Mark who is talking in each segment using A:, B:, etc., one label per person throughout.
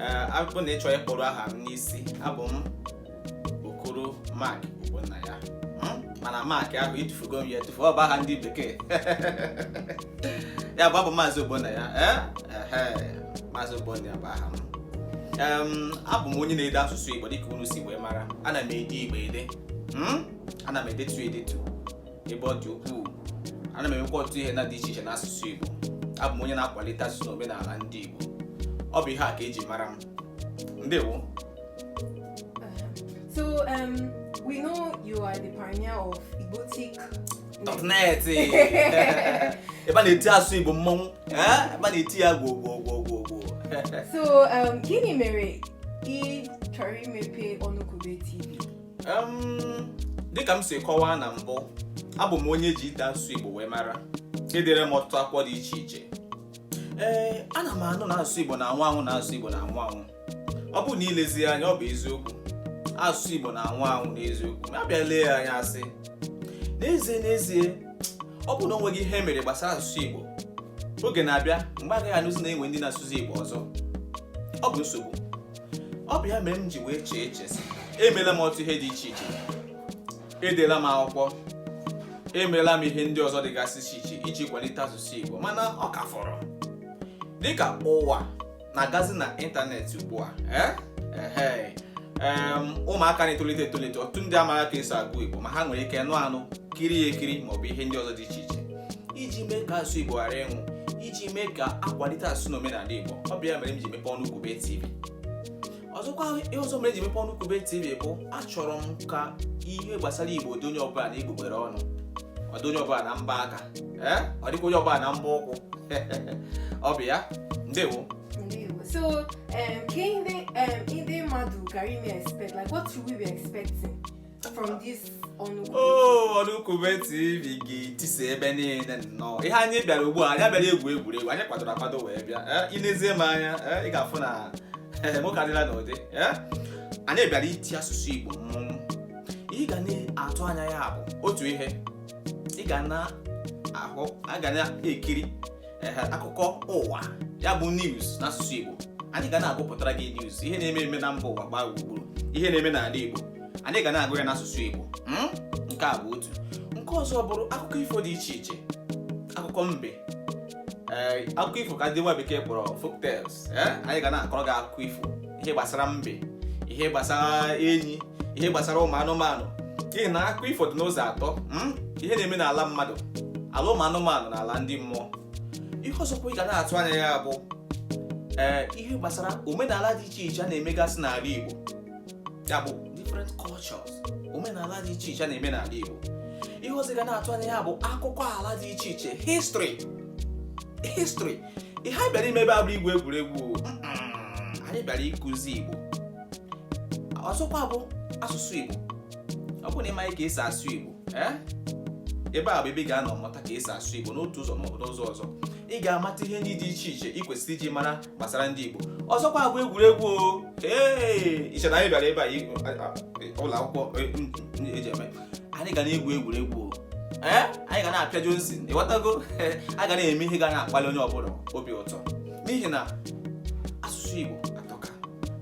A: ee abụ na ị chọọ ịkpọru aha m n'isi abụ m okoro mark ogbonnaya mana mark ahụ etufugo m ya etufu ọ bụ aha ndị bekee ya bụ abụ m maazị ogbonnaya maazị ogbonnaya bụ aha m abụ m onye na-ede asụsụ igbo dịka unu si wee mara ana m ede igbo ede ana m edetu edetu ebe ọ dị ukwuu ana m emekwa ọtụtụ ihe na-adị iche iche n'asụsụ Igbo abụ m onye na-akwalite asụsụ na omenala ndị Igbo ọ bụ ihe a ka eji mara m ndewo so um, we know you are the pioneer of Igbotic.net ebe a na-eti asụsụ Igbo mmọnwụ eh? ebe a na-eti ya gwoo gwoo gwoo gwoo gwoo so um, gịnị mere ị chọrọ imepe Ọnụkwube TV dịka m si kọwaa na mbụ abụ m onye eji ide asụsụ Igbo wee mara edere m ọtụtụ akwụkwọ dị iche iche ee ana m anụ na asụsụ Igbo na-anwụ anwụ na asụsụ Igbo na-anwụ anwụ ọ bụrụ na i lezie anya ọ bụ eziokwu asụsụ Igbo na-anwụ anwụ n'eziokwu ma abịa lee ya anya asị n'ezie n'ezie ọ bụ na o nweghị ihe e mere gbasara asụsụ Igbo oge na-abịa mgbe agaghị anụzi na enwe ndị na-asụzi Igbo ọzọ ọ bụ nsogbu ọ bụ ya mere m ji wee chee eche sị emeela m ọtụtụ ihe dị iche iche edela m akwụkwọ emeela m ihe ndị ọzọ dịgasị iche iche iji kwalite asụsụ Igbo mana ọ ka fọrọ dịka ụwa na-agazi na ịntanetị ugbu a eh? ụmụaka na-etolite etolite ọtụtụ ndị amaghị ka esi agụ Igbo ma ha nwere ike nụ anụ kiri ekiri maọbụ ihe ndị ọzọ dị iche iche iji mee ka asụsụ Igbo ghara ịnwụ iji mee ka akwalite asụsụ na omenala Igbo ọ bụ ya mere m ji mepe Ọnụkwube TV ọzọkwa ihe ọzọ mere m ji mepe Ọnụkwube TV bụ achọrọ m ka ihe gbasara Igbo dị onye ọbụla n'egbugbere ọnụ ọ dị onye ọbụla na mbọ aka eh? ọ dịkwa onye ọbụla na mbọ ụkwụ ọ bụ ya ndewo so um, ka ndị um, mmadụ ga na-eme expect like what should we be expecting from this Ọnụkwube. Oh, Ọnụkwube TV ga-etisa ebe niile nnọọ ihe anyị bịara ugbu a anyị abịaghị igwu egwuregwu anyị kwadoro akwado wee bịa eh, i nezie m anya eh, ị ga-afụ na eh, nwoke adịla n'ụdị anyị bịara iti asụsụ Igbo mmụọ ị ga na-atụ anya ya bụ otu ihe ị ga na-ahụ ị ga na-ekiri akụkọ ụwa ya bụ news n'asụsụ Igbo anyị ga na-agụpụtara gị news ihe na-eme eme na mba ụwa gbaa gburugburu ihe na-eme n'ala Igbo anyị ga na-agụ ya n'asụsụ Igbo hmm? nke a bụ otu nke ọzọ bụrụ akụkọ ifo dị iche iche akụkọ mbe eh, akụkọ ifo ka ndị nwa bekee kpọrọ folktales eh? anyị ga na-akọrọ gị akụkọ ifo ihe gbasara mbe ihe gbasara enyi ihe gbasara ụmụ anụmanụ n'ihi na akụkọ ifo dị n'ụzọ atọ hmm? ihe na-eme n'ala mmadụ ala ụmụ anụmanụ na ala ndị mmụọ ihe ọzọkwa ị ga na-atụ anya ya bụ ee eh, ihe gbasara omenala dị iche iche a na-emegasị n'ala Igbo ya bụ different cultures omenala dị iche iche na-eme n'ala Igbo ihe ọzọ ị ga na-atụ anya ya bụ akụkọ ala dị iche iche history history ihe anyị bịara ime ebe a abụghị igwu egwuregwu anyị bịara ịkụzi Igbo ọzọkwa bụ asụsụ Igbo ọ bụ na ị maghị ka esi asụ Igbo eh? ebe a bụ ebe ị ga-anọ mụta ka esi asụ Igbo n'otu ụzọ ma ọ bụ n'ụzọ ọzọ ị ga-amata ihe ndị dị iche iche ị kwesịrị ịmara gbasara ndị Igbo ọzọkwa bụ egwuregwu ee i che na anyị bịara ebe a ụlọ akwụkwọ e, eji eme anyị ga na-egwu egwuregwu ee anyị ga na-apịa Johnson ịghọtago a ga na-eme ihe ga na-akpali onye ọbụla obi ụtọ n'ihi na asụsụ Igbo atọka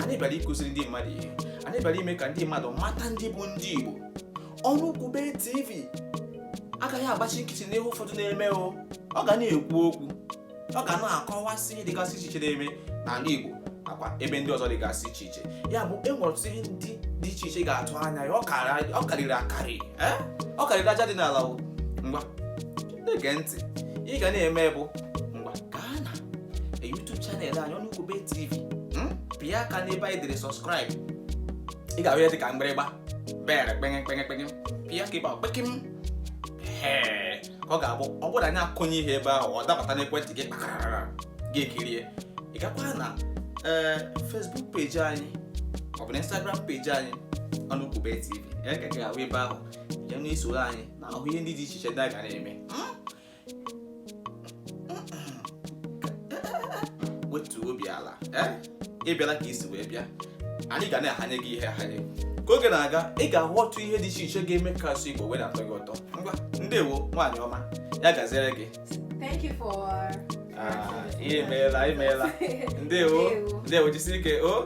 A: anyị bịara ịkụziri ndị mmadụ ihe anyị bịara ime ka ndị mmadụ mata ndị bụ ndị Igbo ọnụ kwube TV agaghị agbachi nkịtị n'ihe ụfọdụ na-eme o ọ ga na-ekwu okwu ọ ga na-akọwasị ihe dịgasị iche iche na-eme n'ala Igbo nakwa ebe ndị ọzọ dịgasị iche iche ya bụ e nwere ọtụtụ ihe ndị dị iche iche ị ga-atụ anya ya ọ karịrị akarị eh? ọ karịrị aja dị n'ala ngwa na-ege ntị ihe ị ga na-eme bụ ngwa gaa na e YouTube channel anyị ọnụ kwube TV hmm? pịa aka n'ebe anyị dere subscribe ị ga-ahụ ya dị ka mgbịrịgba bere kpenge kpenge kpenge pịa aka ebe a kpekem ka ọ ga-abụ ọ bụrụ anyị akụnye ihe ebe ahụ ọ dabata n'ekwentị gị kpakarara gị ekirie ị gakwa na ee Facebook page anyị ọ bụ na Instagram page anyị ọnụ kwube tv ya ka gị ahụ ebe ahụ ya na i soro anyị na-ahụ ihe ndị dị iche iche ndị a ga na-eme wetuo obi ala ị bịala ka i si wee bịa anyị ga na-ahanye gị ihe ahanye ka oge na-aga ị ga-ahụ ọtụtụ ihe dị iche iche ga-eme ka asụsụ Igbo wee na-atọ gị ụtọ ngwa ndewo nwaanyị ọma ya gaziere gị Thank you for Ah, imeela imeela ndewo Ndewo. ndewo jisi ike o